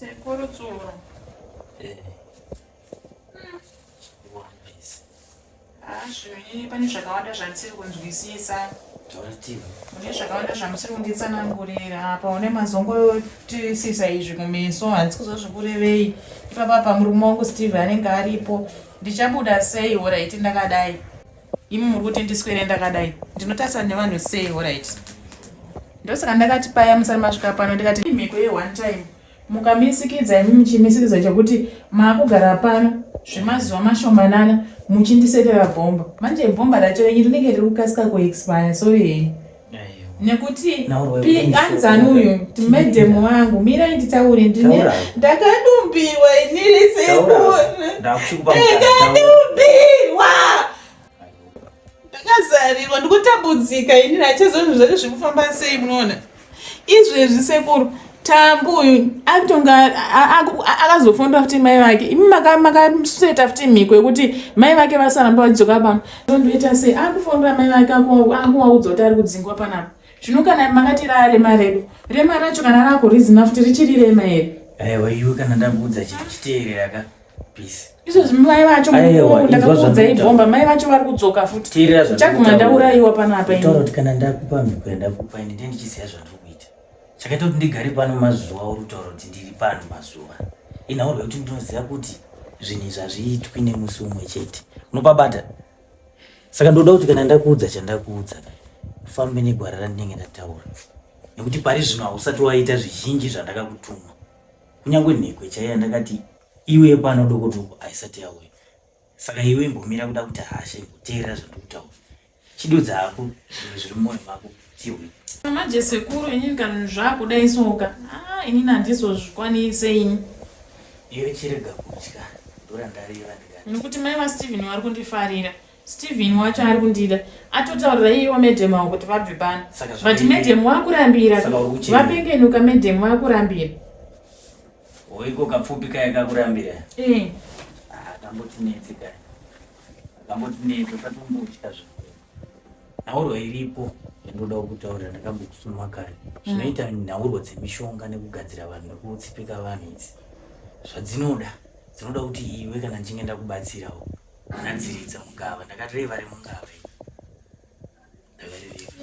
Sekuru tsuro. Eh. Hazvi ah, pane zvakawanda zvatisiri kunzwisisa. Mune zvakawanda zvamusiri kunditsanangurira apa une mazongo yotisisa izvi mumeso handisi kuziva zvikurevei ipapa pamurume wangu steve anenge aripo ndichabuda sei horaiti ndakadai imi muri kuti ndiswere ndakadai ndinotarisa nevanhu sei orit ndosaka ndakati paya musari masvika pano ndikati imhiko ye one time mukamisikidza imi muchimisikidza chekuti maakugara pano zvemazuva mashomanana muchindisetera bhomba manje bhomba racho renyu rinenge riri kukasika kuexpire sorry hei nekuti anzani uyo madam wangu mirai nditaure ndine ndakadumbirwa iniri sekuru ndakadumbirwa ndakazarirwa ndikutambudzika inini achazonhu zvake zvikufamba sei munoona izvezvi sekuru tambu uyu akutonga akazofonda futi mai vake imi makaseta futi mhiko yekuti mai vake vasaramba vadzoka pano tondoita sei akufondira mai vake akuwaudzwa kuti ari kudzingwa panapa zvino kana makati raa rema redu rema racho kana raakurizina futi richiri rema here aiwa iwe kana ndakuudza chii chiteerera ka pisi izvozvi mai vacho ndakakuudza ibhomba mai vacho vari kudzoka futi chaguma ndaurayiwa panapa itaura kuti kana ndakupa mhiko yandakupa ini ndendichisiyazvandiri chakaita kuti ndigare pano mazuva orutaura kuti ndiri pano mazuva inhaurwa yekuti ndinoziva kuti zvinhu izvi hazviitwi nemusi umwe chete unopabata saka ndoda kuti kana ndakuudza chandakuudza ufambe negwara randinenge ndataura nekuti pari zvino hausati waita zvizhinji zvandakakutuma kunyange nhekwe chaiyo yandakati iwe pano dokotuko haisati yauya saka iwe imbomira kuda kuti hasha imboteerera zvandikutaura chidudza hako zvinhu zviri mumwoyo mako tiwe manje sekuru inini kana zvakudai soka ah, inini handizozvikwanise ini iwe chirega kutya ndorandareva nekuti mai vasteven vari kundifarira steven wacho ari kundida atotaurira iyewo medem avo kuti vabve pano but medem wakurambira vapengenuka medem wakurambira oiko kapfupi kaye kakurambira eh. ah, kambotinetsi kaye Vamotinei zvakatombotya zvavo. Nhaurwa iripo yandoda kutaurira ndakambokusunwa kare. Zvinoita nhaurwa dzemishonga nekugadzira vanhu nekutsipika vanhu idzi. Zvadzinoda dzinoda kuti iwe kana ndichinge ndakubatsirawo. Nadziridza mungava ndakatireva remungava.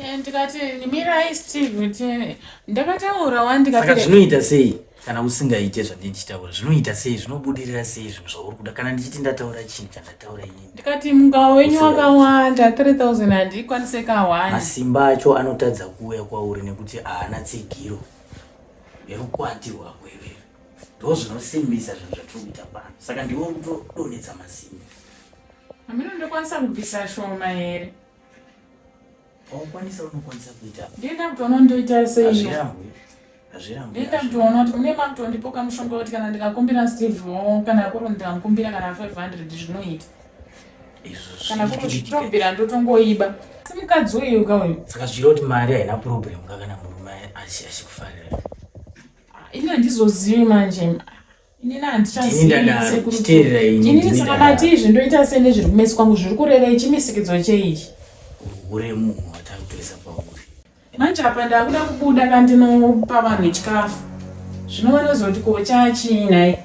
eh, ndikati mirai steve kuti ndakataura wandikasaka zvinoita sei kana usingaite zvandichitaura zvinoita sei zvinobudirira sei zvinhu zvauri kuda kana ndichiti ndataura chinhu chandataura inini ndikati mungao wenyu wakawanda 3000 handikwanise kahwani masimba acho anotadza kuuya kwauri nekuti haana tsigiro yerukwati rwako iwewe ndo zvinosimbisa zvinhu zvatiri kuita pano saka ndiwe kutodonetsa masimba hamino ndokwanisa kubvisa shoma here Waukwanisa unokwanisa kuita. Ndinda kuti unondoita sei? Hazvirambwe. Hazvirambwe. Ndinda kuti unoti mune makuti undipoka mushonga kuti kana ndikakumbira Steve wo kana kuri ndikakumbira kana 500 zvinoita. Izvo kana kuri uchitobvira ndotongoiba. Asi mukadzi uyu ka uyu. Saka zviro kuti mari haina problem ka kana murume achikufarira. Ini handizozivi manje. inini handichasiinini saka mati izvi ndoita sei nezviri kumeso kwangu zviri kurevei chimisikidzo cheichi hure munhu watakutoresa pauri manje apa ndakuda kubuda kandinopa vanhu chikafu zvino vanozoti ko chachii nhai eh,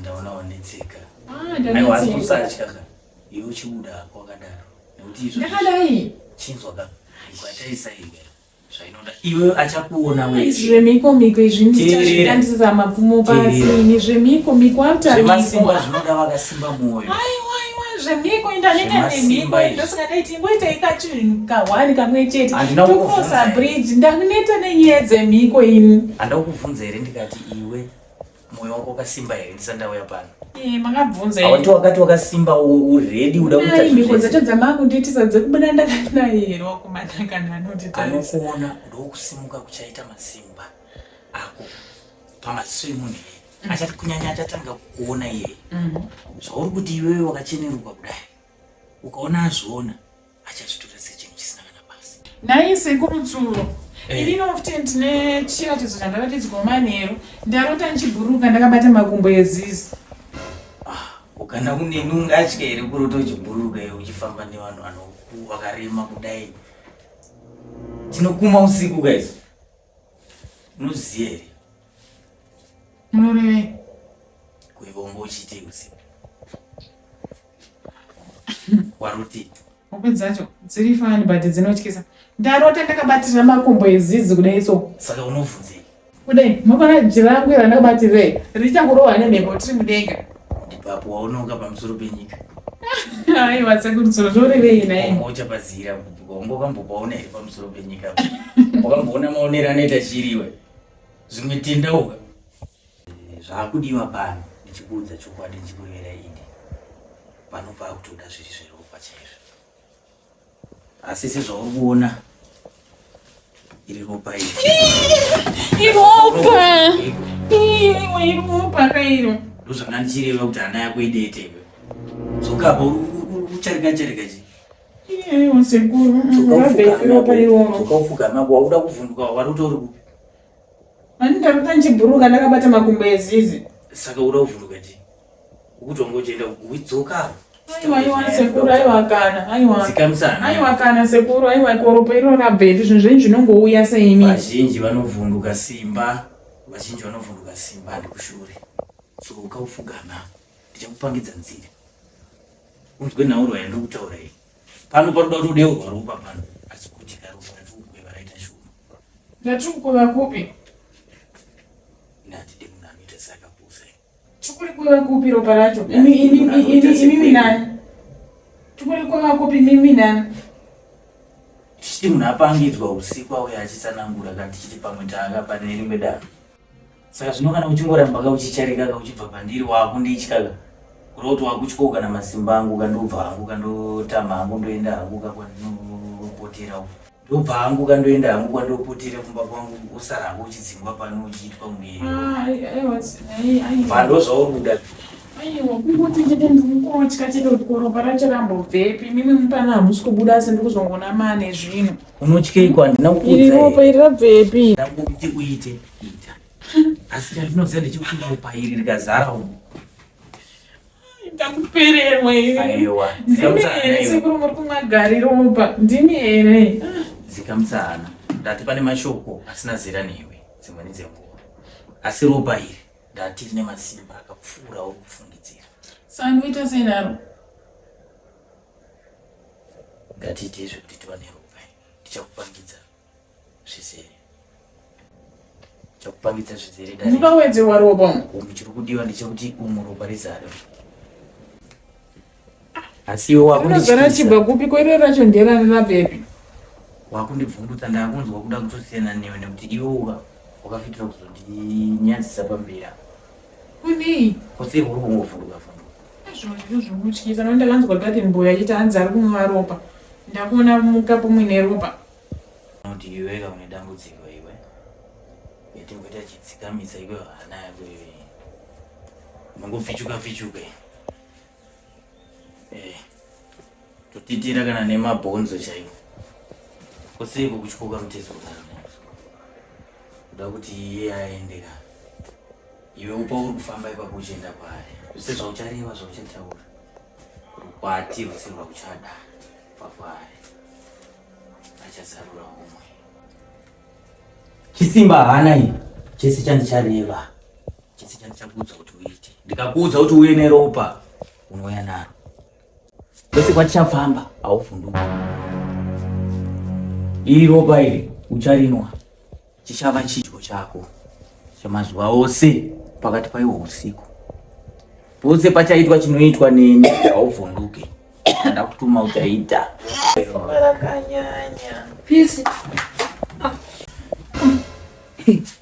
ndaona wanetseka ah, ndanetseka iwe uchibuda hako wakadaro nekuti izvo ndakadai chinzwa ka kwataisa iwe zvainoda iwe achakuona wewe zvemiko miko izvi ndichazvitandisa mapfumo pasi ini zvemiko miko atarisimba zvinoda vakasimba moyo zvemiko indaneta nemiko ndosingataiti ingoita ikachinhu kahwani kamwe chete tokosa bridge ndaneta nenyaya dzemiko ini andakubvunza here ndikati iwe Moyo wako wakasimba here ndisati ndauya pano? Eh, makabvunza here? Awati wakati wakasimba uredi uda kuita zvese. Miko dzatadza mako ndiitisa dzekubuda ndakana here wakumana kana anoti tari. Anokuona ndokusimuka kuchaita masimba ako pamaziso emunhu iye. Mm. Achati kunyanya achatanga kukuona iye. Mm. Zvauri kuti iwewe wakacheneruka kudai. Ukaona azviona. achazvitora sechinhu chisina kana basa nhai sekuru tsuro eh. ini often tine chiratidzo chandaratidzwa manheru ndarota ndichibhuruka ndakabata makumbo ezizi ah, kana uneni ungatya here kurota uchibhuruka iwe uchifamba nevanhu vanoku vakarema kudai tinokuma usiku guys Unoziye here? Munorevei? Kuivongo uchiitei usiku? Waruti? Hope dzacho dziri fani but dzinotyisa. Ndarota ndakabatirira makumbo ezizi kudai so. Saka unobvunzei? Kudai, mokona jirangu ira ndakabatirei? Richakurohwa nemhepo tiri mudenga. Ipapo waonoka pamusoro penyika. Aiwa sekuru tsoro zvorevei naye? Uchapazira kuti wangu wakambopaona here pamusoro penyika? Wakamboona maonero anoita chiriwe. Zvimwe tendauka. Eh, Zvakudiwa pano ndichikuudza chokwadi ndichikurevera idi. Pano pakutoda zviri zveropa chaizvo. Asi sezvauri kuona iri ropa iri. Iropa. Iwe iropa kairo. Ndozvanga ndichireva kuti ana yako idete iwe. Dzoka apo ucharika charika chi. Iwe sekuru. Dzoka ufuka mako wakuda kuvhunduka wari utori ku. Mani ndaruta ndichiburuka ndakabata makumbo ezizi. Saka uda kuvhunduka chi. ukutongochenda kugwidzoka aiwa aiwa sekuru aiwa kana aiwa aiwa kana sekuru aiwa koropo iro rabveti zvinhu zvenyu zvinongouya seimi vazhinji vanovhunduka simba vazhinji vanovhunduka simba handikushure tsoka ufugama ndichakupangidza nzira unzwe nhauro yandiri kutaura iyi pano panoda kuti udeurwa ropa pano asi kuti daropa ratiri kukweva raita shuma ndatiri kukweva kupi Tikuri kuva kupi ropa racho? Imi imi imi imi minani. Tikuri kuva kupi imi minani. Tichiti munhu apangidzwa usiku auya achitsanangura kana tichiti pamwe tanga pane rimwe danho. Saka zvino kana uchingoramba ka uchicharika ka uchibva pandiri wakunditya ka kuroti wakutyawo kana masimba angu kandobva hangu kandotama hangu ndoenda hangu ka kwandinopotera uko. ndobva hangu kandoenda hangu kwandopotera kumba kwangu usara hako uchidzingwa pano uchiitwa mneyovandozvauruda aiwa kungoti chete ndikukotya chete kuti koropa racho rambobvepi mimi mupana hamusi kubuda asi ndikuzongona mane zvino unotyei kwandina kukuudzairiropa iri rabvepi ndakuti uite ita asi chandinoziva ndichikuti ropa iri rikazara umu ndakupererwa aiwa ndimi here sekuru muri kumwa gari ropa ndimi here dzikamusana ndati pane mashoko asina zera newe dzimweni dzenguva asi ropa iri ndati rine masimba akapfuura uri kufungidzira sandoita senaro ngatiite zvekuti tiwane ropa tichakupangidza zvizere chakupangidza zvizere mumba wedze wari woboma umu chiri kudiwa ndechekuti umu ropa rizado asi iwe wakunozana chibva kupi koiro racho nderani rapepi wakundibvundutsa ndakunzwa kuda kutosiyana newe nekuti iwe uka wakafitira kuzondinyadzisa pambira kunei kose uri kungofurukafura Zvinhu zvinhu zvokutyisa nokuti ndakanzwa garden boy achiti hanzi ari kunwa ropa ndakuona mukapu muine ropa kuti iweka une dambudziko iwe yete kuita chitsikamisa iwe hana yako iwe unongopfichuka pfichuka eh totitira kana nemabhonzo chaiwo koseiko kutyoka mutezo kudaro kuda kuti iye aendeka iwe upa uri kufamba ipapo uchienda kwaari zvese zvauchareva zvauchataura rukwati rwese rwakuchada pakwaari achazarura umwe chisimba hana iyi chese chandichareva chese chandichakuudza kuti uite ndikakuudza kuti uye neropa unouya naro Kwese kwatichafamba hauvhunduki. Iri ropa iri ucharinwa chichava chidyo chako chemazuva ose pakati paiwo usiku. Pose pachaitwa chinoitwa neni hauvhunduke. Ndakutuma uchaita. Rakanyanya. Peace. Ah.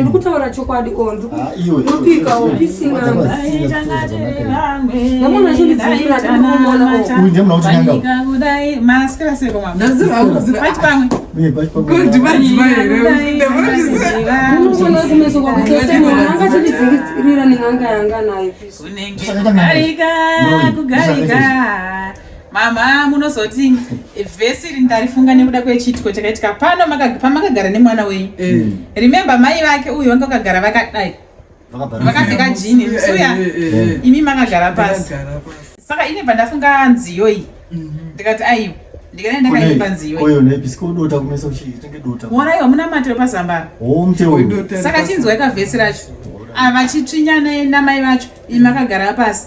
ndikutaura chokwadi o ndikupika opisinaaaakumeso kwakuteseangatilidzingirira nenganga yanga nayo mama munozoti vhesi iri ndarifunga nekuda kwechiitiko chakaitika pano pamakagara nemwana wenyu mm. remember mai vake uyu vanga vakagara vakadai vakapfeka jini eh, suya eh, eh, imi makagara pasi saka ini pandafunga nziyo iyi mhm. ndikati aiwa ndikanaendakaimbanziyoonaiwa hamuna matiro pazambara saka chinzwaika vhesi racho avachitsvinyana ah, namai vacho imi makagara pasi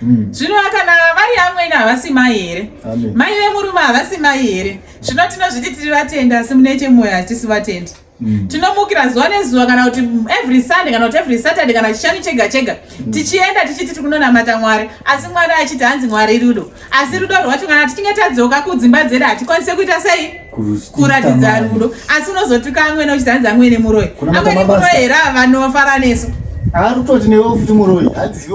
Hmm. zvino mm. kana vari amweni havasi mai here mai vemurume havasi mai here zvino tinozviti tiri vatendi asi mune chemwoyo hatisi vatendi mm. tinomukira zuva nezuva kana kuti every sunday kana kuti every saturday kana chishanu chega chega mm. tichienda tichiti tiri kunonamata mwari asi mwari achiti hanzi mwari rudo asi rudo rwacho kana tichinge tadzoka kudzimba dzedu hatikwanise kuita sei kuratidza rudo asi unozotuka amwene uchiti hanzi amwene muroi amwene muroi here ava vanofara nesu arutoti newe futi muroi adzive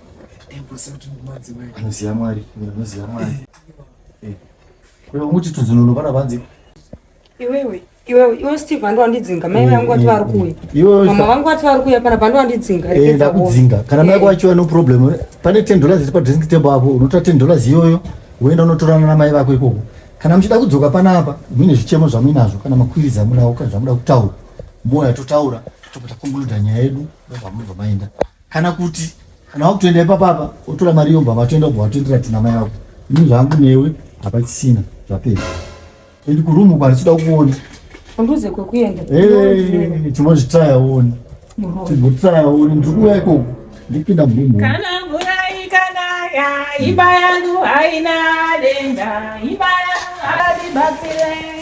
anoziva mwari anoziva mwari eh. iwe unguti tuzunono vana vanzi iwewe iwewe iwe steve handi wandidzinga mai vangu vati vari kuuya mama vangu vati vari kuuya panapa handi wandidzinga eh, ndakudzinga kana mai kwachiwa no problem eh? pane ten dollars iri padressing table apo unotora ten dollars iyoyo woenda unotorana namai vako ikoko kana muchida kudzoka panapa muine zvichemo zvamuinazvo kana makwirizi amunawo kana zvamuda kutaura moya totaura tobva takonguluda nyaya yedu ndobva mubva maenda kana kuti kana wakutoenda ipapa apa otora mari yomba vatoenda kubva watoendera tina mai vako ini zvangu newe hapachisina zvapera endi kurumu kwa ndichida kuona kunduze kwekuenda tinozvitsaya uone tinozvitsaya uone ndiri kuuya ikoko ndipinda murumu kana mvura ikanaya imba yangu haina denga imba yangu haibatsirei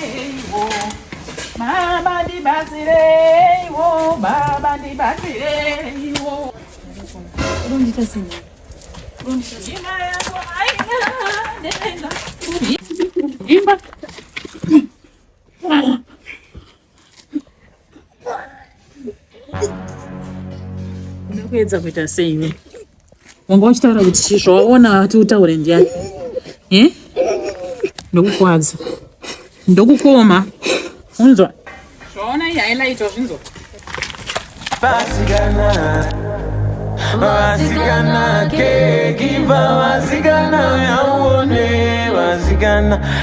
Baba ndibatsireiwo, baba ndibatsireiwo. Unondiita sei? Unondiita sei? Imba yako haina denga. Imba. Unokuedza kuita sei iwe? wanga uchitaura kuti zvawaona vati utaure ndiyani eh? ndokukwadza ndokukoma unzwa zvaona iyi hailaitwa zvinzwa vasikana vasikana kekiva vasikana yaone vasikana